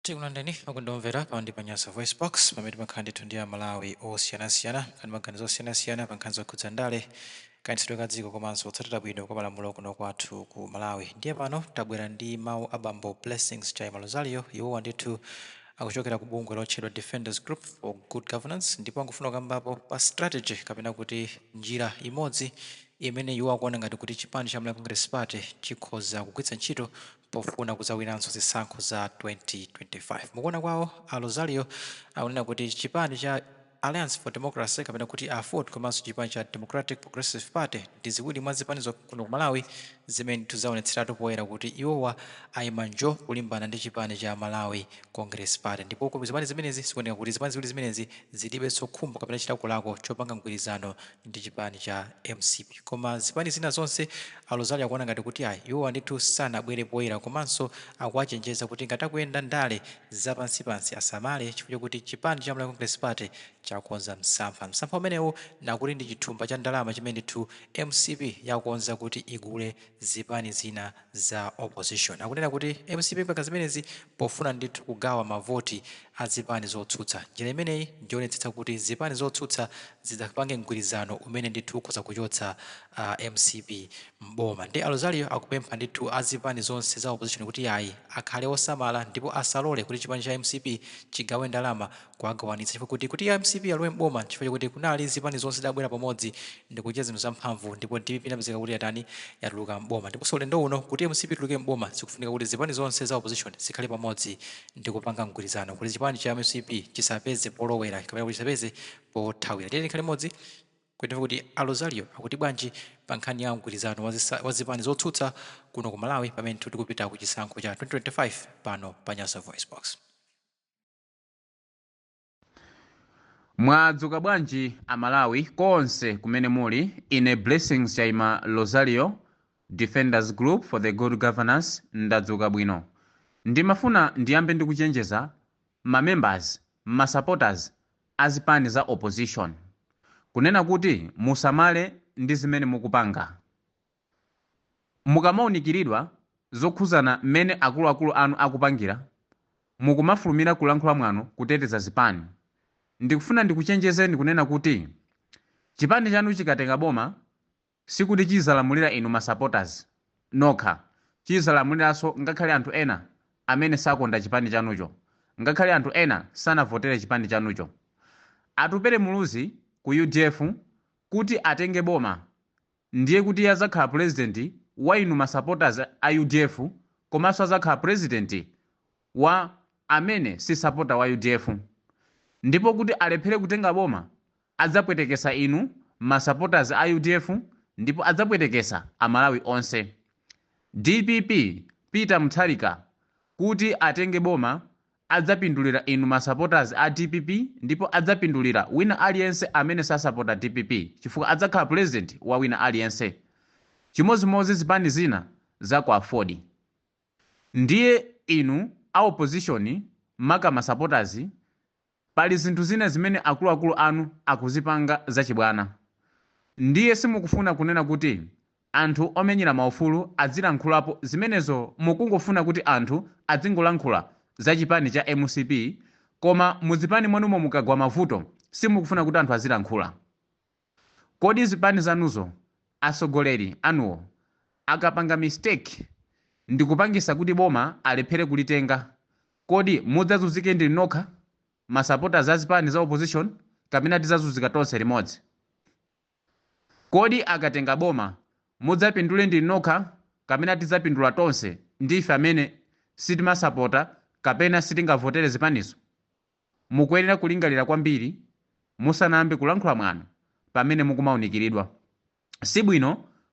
tikulandireni okondedwa omvera pa ndi pa nyasa voice box pamene timakhala ndithu ndi amalawi osiyanasiyana kukamba maganizo osiyanasiyana pa nkhani zokhudza ndale kayendetsedwe ka dziko komanso kutsatira bwino kwa malamulo kuno kwathu ku malawi ndiye pano tabwera ndi mawu a bambo blessings chaima rosario iwowa ndithu akuchokera ku bungwe lotchedwa defenders group for good governance ndipo akufuna kukambapo pa strategy kapena kuti njira imodzi imene iwo akuona ngati kuti chipani cha malawi congress party chikhoza kugwiritsa ntchito pofuna kudzawinanso zisankho za 2025. Mukuona kwawo, a Rosario akunena kuti chipani cha Alliance for Democracy kapena kuti aford komanso chipani cha Democratic Progressive Party ndi ziwiri mwa zipani zokha kuno ku Malawi zimene ndithu zaonetseratu poyera kuti iwowa aima njo kulimbana ndi chipani cha Malawi Congress Party ndipo ku zipani zimenezi zikuoneka kuti zipani ziwiri zimenezi zilibenso khumbo kapena chilakolako chopanga mgwirizano ndi chipani cha mcp koma zipani zina zonse a Rosario akuona ngati kuti ayi iwowa ndithu sanabwere poyera komanso akuwachenjeza kuti ngati akuyenda ndale zapansipansi asamale chifukwa chokuti chipani cha Malawi Congress Party chakonza msampha. Msampha umenewu akuti ndi chithumba cha ndalama chimene ndithu mcp yakonza kuti igule zipani zina za opposition akunena kuti mcp ipanga zimenezi pofuna ndithu kugawa mavoti a zipani zotsutsa. Njira imeneyi njoonetsetsa kuti zipani zotsutsa zisadzapange mgwirizano umene ndithu ukhoza kuchotsa a mcp m'boma. Nde a Rosario akupempha ndithu a zipani zonse za opposition kuti yayi akhale osamala ndipo asalole kuti chipani cha mcp chigawe ndalama kuwagawanitsa chifukwa kuti kuti mcp alowe m'boma chifukwa chakuti kunali zipani zonse zidabwera pamodzi ndikuchita zinthu zamphamvu ndipo dpp inapezeka kuti yatani yatuluka m'boma ndiponso ulendo uno kuti mcp ituluke m'boma zikufunika kuti zipani zonse za opposition zikhale pamodzi ndikupanga mgwirizano kuti chipani cha mcp chisapeze polowera kapena kuti chisapeze pothawira tiyeni tikhale limodzi kuti kuti a rosario akuti bwanji pa nkhani ya mgwirizano wa zisa- wa zipani zotsutsa kuno ku malawi pamene tikupita ku chisankho cha 2025 pano pa nyasa voice box mwadzuka bwanji amalawi konse kumene muli ine blessings chaima rosario defenders group for the good governance ndadzuka bwino ndimafuna ndiyambe ndikuchenjeza mamembers ma supporters azipani za opposition kunena kuti musamale ndi zimene mukupanga Mukamaunikiridwa zokhuzana mmene akuluakulu anu akupangira, mukumafulumira kulankhula mwano kuteteza zipani. Ndikufuna ndikuchenjezeni kunena kuti chipani chanu chikatenga boma sikuti chizalamulira inu ma supporters nokha, chizalamuliranso ngakhale anthu ena amene sakonda chipani chanucho, ngakhale anthu ena sanavotere chipani chanucho. Atupele Muluzi ku udf kuti atenge boma Ndiye kuti azakhala president wa inu ma supporters a udf komanso azakhala president wa amene si supporter wa udf ndipo kuti alephere kutenga boma adzapwetekesa inu ma supporters a udf ndipo adzapwetekesa amalawi onse dpp peter mutharika kuti atenge boma adzapindulira inu ma supporters a dpp ndipo adzapindulira wina aliyense amene sasapota dpp chifukwa adzakhala president wa wina aliyense chimodzimodzi zipani zina za ku aford ndiye inu a opposition maka ma supporters pali zinthu zina zimene akuluakulu anu akuzipanga zachibwana ndiye simukufuna kunena kuti Anthu omenyera maufulu adzilankhulapo zimenezo mukungofuna kuti anthu adzingolankhula za chipani cha mcp koma muzipani mwanumo mukagwa mavuto simukufuna kuti anthu azilankhula kodi zipani zanuzo atsogoleri anuwo akapanga mistake ndikupangisa kuti boma alephere kulitenga kodi mudzazunzike ndinu nokha ma supporters a zipani za opposition kapena tizazunzika tonse limodzi Kodi akatenga boma mudzapindule ndinu nokha kapena tidzapindula tonse ndi ife amene sitimasapota kapena sitingavotere zipanizo? Mukuyenera kulingalira kwambiri musanayambe kulankhula mwano pamene mukumaunikiridwa. Sibwino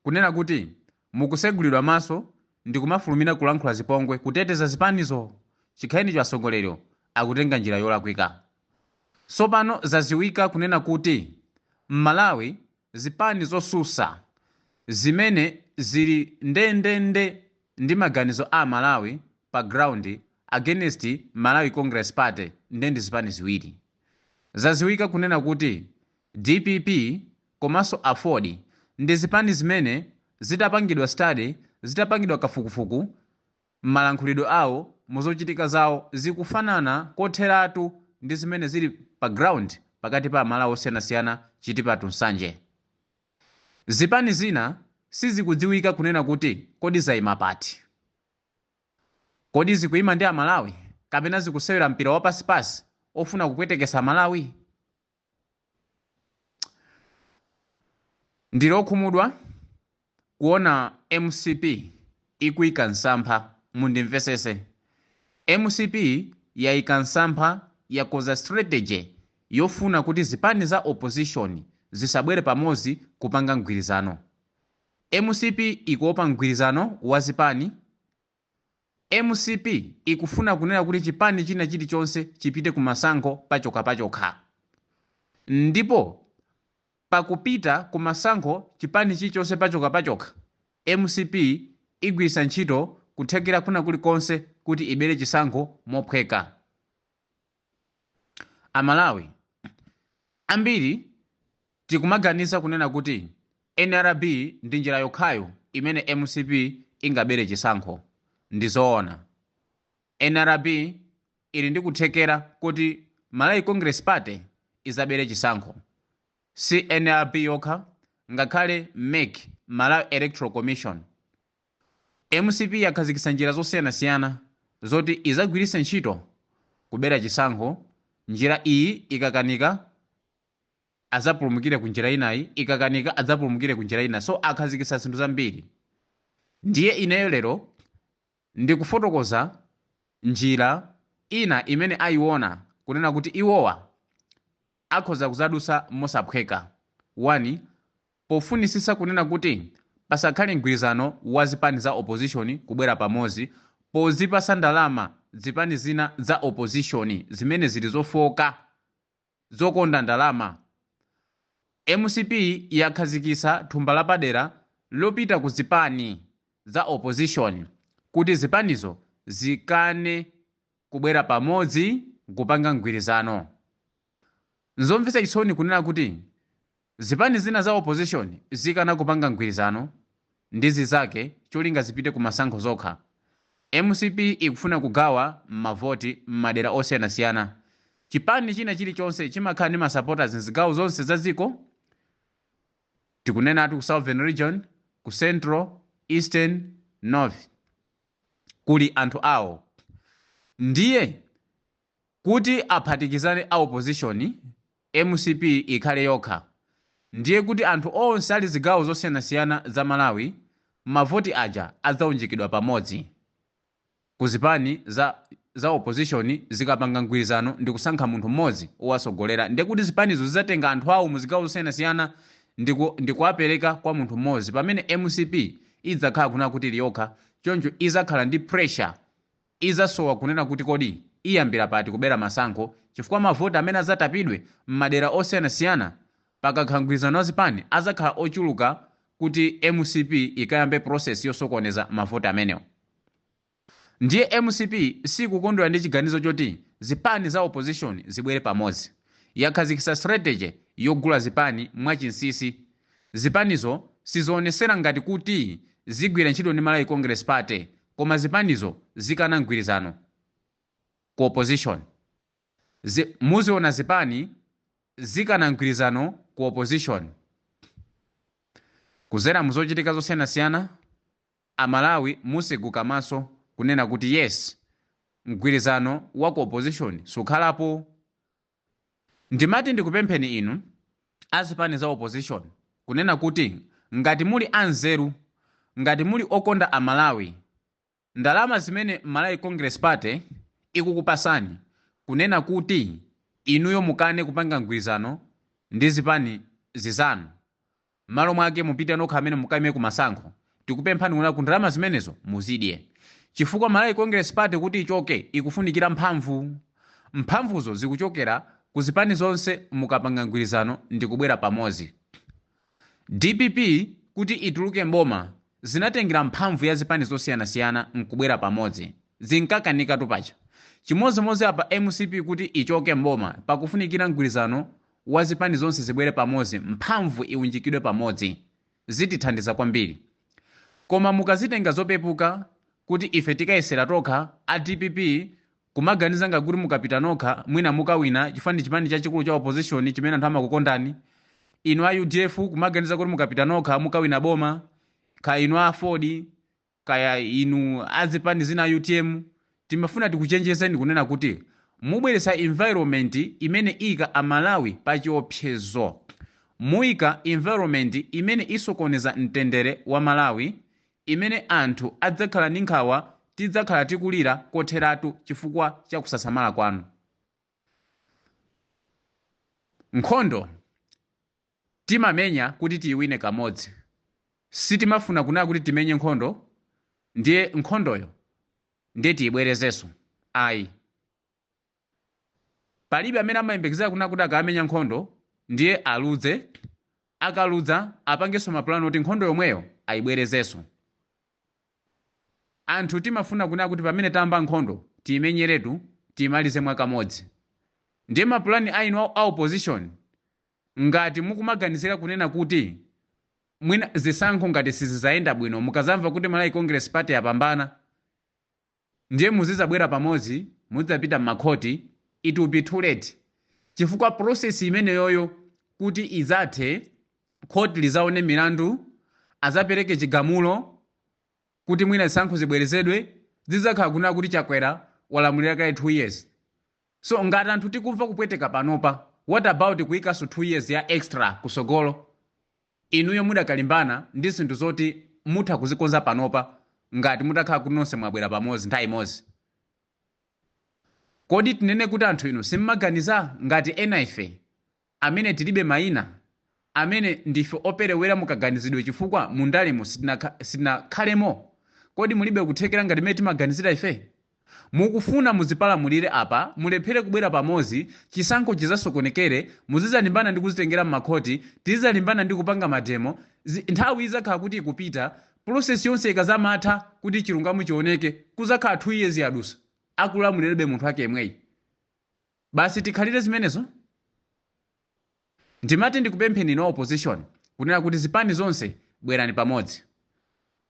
kunena kuti mukusegulidwa maso ndikumafulumira kulankhula zipongwe kuteteza zipanizo! Chikhalirecho atsogoleriwo akutenga njira yolakwika. Sopano zaziwika kunena kuti mmalawi zipani zosusa zimene zili ndendende ndi maganizo a amalawi pa ground against Malawi congress party nde ndi zipani ziwiri. Zaziwika kunena kuti dpp komanso aford ndi zipani zimene zitapangidwa study zitapangidwa kafukufuku M'malankhulidwe awo, muzochitika zawo, zikufanana kotheratu ndi zimene zili pa ground pakati pa Amalawi osiyanasiyana, Chitipa to Nsanje. Zipani zina sizikudziwika kunena kuti kodi zaima pati. Kodi zikuima ndi Amalawi kapena zikusewera mpira wa pasipasi ofuna kupwetekesa Amalawi? Ndili okhumudwa kuona mcp ikuika msampha, mundimvesese, mcp yaika msampha yakoza strategy yofuna kuti zipani za opposition zisabwere pamozi kupanga mgwirizano. Mcp ikuopa mgwirizano wa zipani Mcp ikufuna kunena kuti chipani china chilichonse chipite ku masankho pachokhapachokha. Ndipo pakupita ku masankho chipani chilichonse pachokhapachokha, mcp igwiritsa ntchito kuthekera kwina kulikonse kuti ibere chisankho mophweka. A Malawi ambiri tikumaganiza kunena kuti nrb ndi njira yokhayo imene mcp ingabere chisankho. Ndizoona nrb ili ndi kuthekera kuti Malawi Congress Party izabere chisankho. Si nrb yokha ngakhale mec, Malawi Electoral Commission, Mcp yakhazikitsa njira zosiyanasiyana zoti izagwiritse ntchito kubera chisankho, njira iyi ikakanika azapulumukire ku njira inayi, ikakanika adzapulumukire ku njira ina so akhazikitsa zinthu zambiri ndiye ineyo lero ndikufotokoza njira ina imene ayiona kunena kuti iwowa akhoza kudzadutsa mosaphweka, 1 pofunitsitsa kunena kuti pasakhale mgwirizano wa zipani za opposition kubwera pamodzi pozipatsa ndalama zipani zina za opposition zimene zili zofooka, zokonda ndalama. Mcp yakhazikitsa thumba lapadera lopita ku zipani za opposition kuti zipanizo zikane. kubwera pamodzi n'kupanga mgwirizano. N'zomvetsa chisoni kunena kuti zipani zina za opposition zikana kupanga mgwirizano ndi zinzake cholinga zipite kumasankho zokha. Mcp ikufuna kugawa mavoti m'madera osiyanasiyana. Chipani china chilichonse chimakhala ndi ma supporters m'zigawo zonse za dziko, tikunenatu ku Southern Region, ku Central, Eastern, North. kuli anthu awo ndiye kuti aphatikizane a opposition mcp ikhale yokha ndiye kuti anthu onse ali zigawo zosiyanasiyana za Malawi mavoti aja adzaunjikidwa pamodzi ku zipani za opposition zikapanga mgwirizano ndikusankha munthu mmodzi owatsogolera ndiye kuti zipanizo zidzatenga anthu awo mu zigawo zosiyanasiyana ndikuwapereka kwa munthu mmodzi pamene mcp idzakhala kunena kuti ili yokha, choncho izakhala ndi pressure, izasowa kunena kuti kodi iyambira pati kubera masankho chifukwa mavoti amene azatapidwe m'madera osiyanasiyana pakakhala mgwirizano wa zipani azakhala ochuluka kuti mcp ikayambe process yosokoneza mavoti amenewo. Ndiye mcp sikukondwera ndi chiganizo choti zipani za opposition zibwere pamodzi. Yakhazikitsa strategy yogula zipani mwa chinsisi. Zipanizo sizionesera ngati kuti zigwira ntchito ndi Malawi Congress Party koma zipanizo zikana mgwirizano ku opposition. Muziona zipani zikana mgwirizano ku opposition kudzera muzochitika zosiyanasiyana. Amalawi mutseguke maso kunena kuti yes mgwirizano wa ku opposition sukhalapo? Ndimati ndikupempheni inu a zipani za opposition kunena kuti ngati muli a nzeru, ngati muli okonda amalawi, ndalama zimene Malawi Congress Party ikukupasani kunena kuti inuyo mukane kupanga mgwirizano ndi zipani zizanu, Mmalo mwake mupite nokha amene mukaime ku masankho. Tikupemphani kunena kuti ndalama zimenezo muzidye. Chifukwa Malawi Congress Party kuti ichoke ikufunikira mphamvu. Mphamvuzo zikuchokera ku zipani zonse mukapanga mgwirizano ndikubwera pamodzi. Dpp kuti ituluke m'boma zinatengera mphamvu ya zipani zosiyanasiyana nkubwera pamodzi. Zinkakanikatu paja. Chimodzimodzi apa mcp kuti ichoke m'boma pakufunikira mgwirizano wa zipani zonse zibwere pamodzi mphamvu iwunjikidwe pamodzi zitithandiza kwambiri koma mukazitenga zopepuka kuti ife tikayesera tokha a dpp kumaganiza ngati kuti mukapita nokha mwina mukawina chifukwa ndi chipani chachikulu cha opposition chimene anthu amakukondani inu a udf kumaganiza kuti mukapita nokha mukawina boma kaya inu a aford kaya inu azipani zina a utm timafuna tikuchenjezeni kunena kuti mubweretsa environment imene iyika a Malawi pa chiopsezo, muyika environment imene isokoneza mtendere wa Malawi imene anthu adzakhala ndi nkhawa tidzakhala tikulira kotheratu chifukwa cha kusasamala kwanu. Nkhondo. Timamenya kuti tiiwine kamodzi. Sitimafuna kunena kuti timenye nkhondo ndiye nkhondoyo ndiye tiibwerezenso ayi. Palibe amene amayembekezera kunena kuti akamenya nkhondo ndiye aludze, akaludza apangenso mapulani oti nkhondo yomweyo aibwerezenso. Anthu timafuna kunena kuti pamene tayamba nkhondo tiimenyeretu, tiimalize mwakamodzi. Ndiye mapulani a inu a opposition Ngati mukumaganizira kunena kuti mwina zisankho ngati sizizayenda bwino mukazamva kuti Malawi Congress Party yapambana ndiye muzizabwera pamodzi muzidzapita mmakhoti it will be too late chifukwa process imeneyoyo kuti idzathe khoti lizaone milandu azapereke chigamulo kuti mwina zisankho zibwerezedwe zidzakhala kunena kuti Chakwera walamulira kale 2 years. So ngati anthu tikumva kupweteka panopa what about kuikanso 2 years ya extra kutsogolo inuyo mudakalimbana ndi zinthu zoti mutha kuzikonza panopa ngati mutakhala kuti nonse mwabwera pamozi nthawi imozi. Kodi tinene kuti anthu inu simmaganiza ngati ena ife? amene tilibe maina, amene ndife operewera mu kaganizidwe chifukwa mu ndalemo sitinakha, sitinakhalemo? Kodi mulibe kuthekera ngati mmene timaganizira ife? Mukufuna muzipalamulire apa, mulephere kubwera pamodzi, chisankho chizasokonekere, muzizalimbana ndi kuzitengera mmakhoti, tizizalimbana ndi kupanga mademo, zi, nthawi izakhala kuti ikupita, process yonse ikazamatha kuti chilungamo chioneke kuzakhala 2 years yadusa, akulamulirabe munthu wake yemweyi. Basi tikhalire zimenezo? Ndimati ndikupempheni inu a opposition kunena kuti zipani zonse bwerani pamodzi.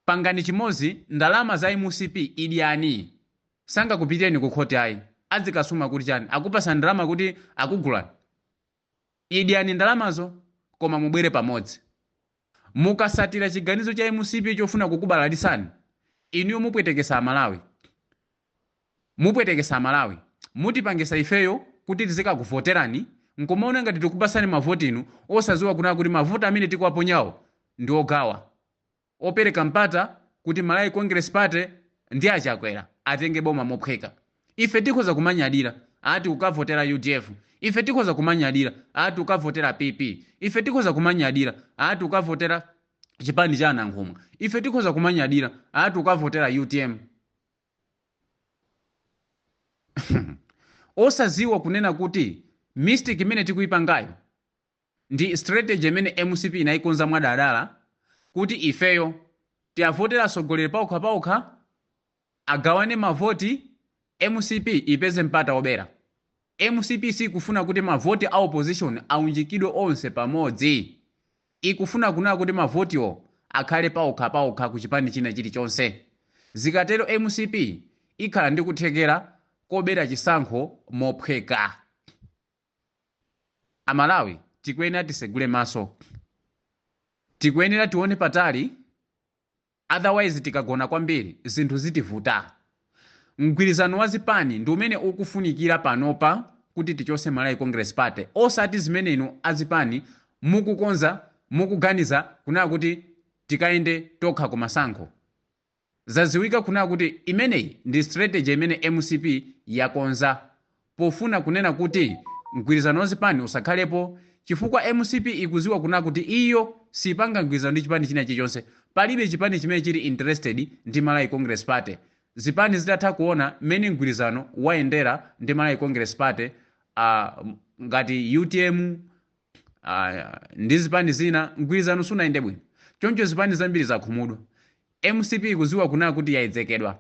Pangani chimodzi ndalama za mcp idyani. Sangakupitireni ku khoti ayi. Adzikasuma kuti chani? Akupasani ndalama kuti akugulani? Idyani ndalamazo koma mubwere pamodzi. Mukasatira chiganizo cha mcp chofuna kukubalalitsani, inuyo mupwetekesa amalawi. Mupwetekesa amalawi. Mutipangisa ifeyo kuti tizikakuvoterani nkumaona ngati tikupatsani mavoti inu osaziwa kunaa kuti mavoti amene tikuwaponyawo ndi ogawa. opereka mpata kuti Malawi Congress Party ndi a Chakwera atenge boma mophweka. Ife tikhoza kumanyadira ati ukavotera udf, ife tikhoza kumanyadira ati ukavotera PP, ife tikhoza kumanyadira ati ukavotera chipani cha a Nankhumwa, ife tikhoza kumanyadira ati ukavotera utm. Osadziwa kunena kuti mistake imene tikuipangayo Ndi strategy imene mcp inaikonza mwadaladala kuti ifeyo tiavotere atsogoleri paokha paokha, agawane mavoti, mcp ipeze mpata obera. Mcp siikufuna kuti mavoti a opposition aunjikidwe onse pamodzi. Ikufuna kunaa kuti mavotiwo akhale paokha paokha ku chipani china chilichonse. Zikatero mcp ikhala ndi kuthekera kobera chisankho mophweka. Amalawi tikuyenera tisegule maso. Tikuyenera tione patali otherwise tikagona kwambiri zinthu zitivuta. Mgwirizano wa zipani ndi umene ukufunikira panopa kuti tichotse Malawi Congress Party osati zimene inu azipani mukukonza, mukuganiza kunena kuti tikayende tokha kumasankho. Zaziwika kunena kuti imeneyi ndi strategy imene mcp yakonza pofuna kunena kuti mgwirizano wa zipani usakhalepo chifukwa mcp ikuziwa kunena kuti iyo sipanga mgwirizano ndi chipani china chilichonse, palibe chipani chimene chili interested ndi Malawi Congress Party zipani zitatha kuona mmene mgwirizano wayendera ndi Malawi Congress Party uh ngati utm uh ndi zipani zina mgwirizano sunayende bwino choncho zipani zambiri zakhumudwa Mcp ikuziwa kunena kuti yaedzekedwa,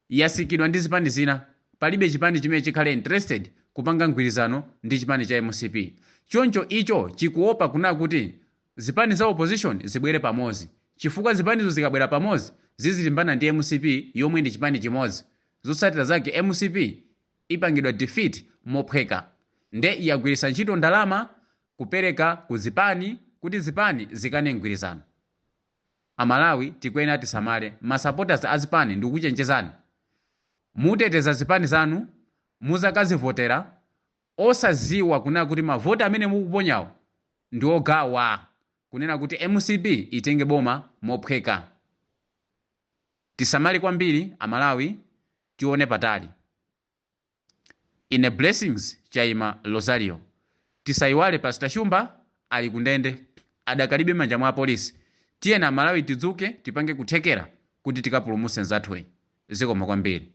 yasikidwa ndi zipani zina, palibe chipani chimene chikhale interested kupanga mgwirizano ndi chipani cha mcp, choncho icho chikuopa kunena kuti zipani za opposition zibwere pamozi chifukwa zipanizo zikabwera pamozi zizilimbana ndi mcp yomwe ndi chipani chimozi zotsatira zake mcp ipangidwa defeat mophweka nde yagwiritsa ntchito ndalama kupereka ku zipani kuti zipani zikane mgwirizano. Amalawi tikuyenera tisamale. Ma supporters a zipani ndikukuchenjezani muteteza zipani zanu muzakazivotera osaziwa kunena kuti ma vote amene mukuponyawo ndi ogawa kunena kuti mcp itenge boma mophweka. Tisamale kwambiri amalawi tione patali. Ine Blessings Chaima Lozario. Tisaiwale Pastor Shumba ali ku ndende adakalibe m'manja mwa apolisi. Tiyeni amalawi tidzuke tipange kuthekera kuti tikapulumuse nzathuyi. Zikomo kwambiri.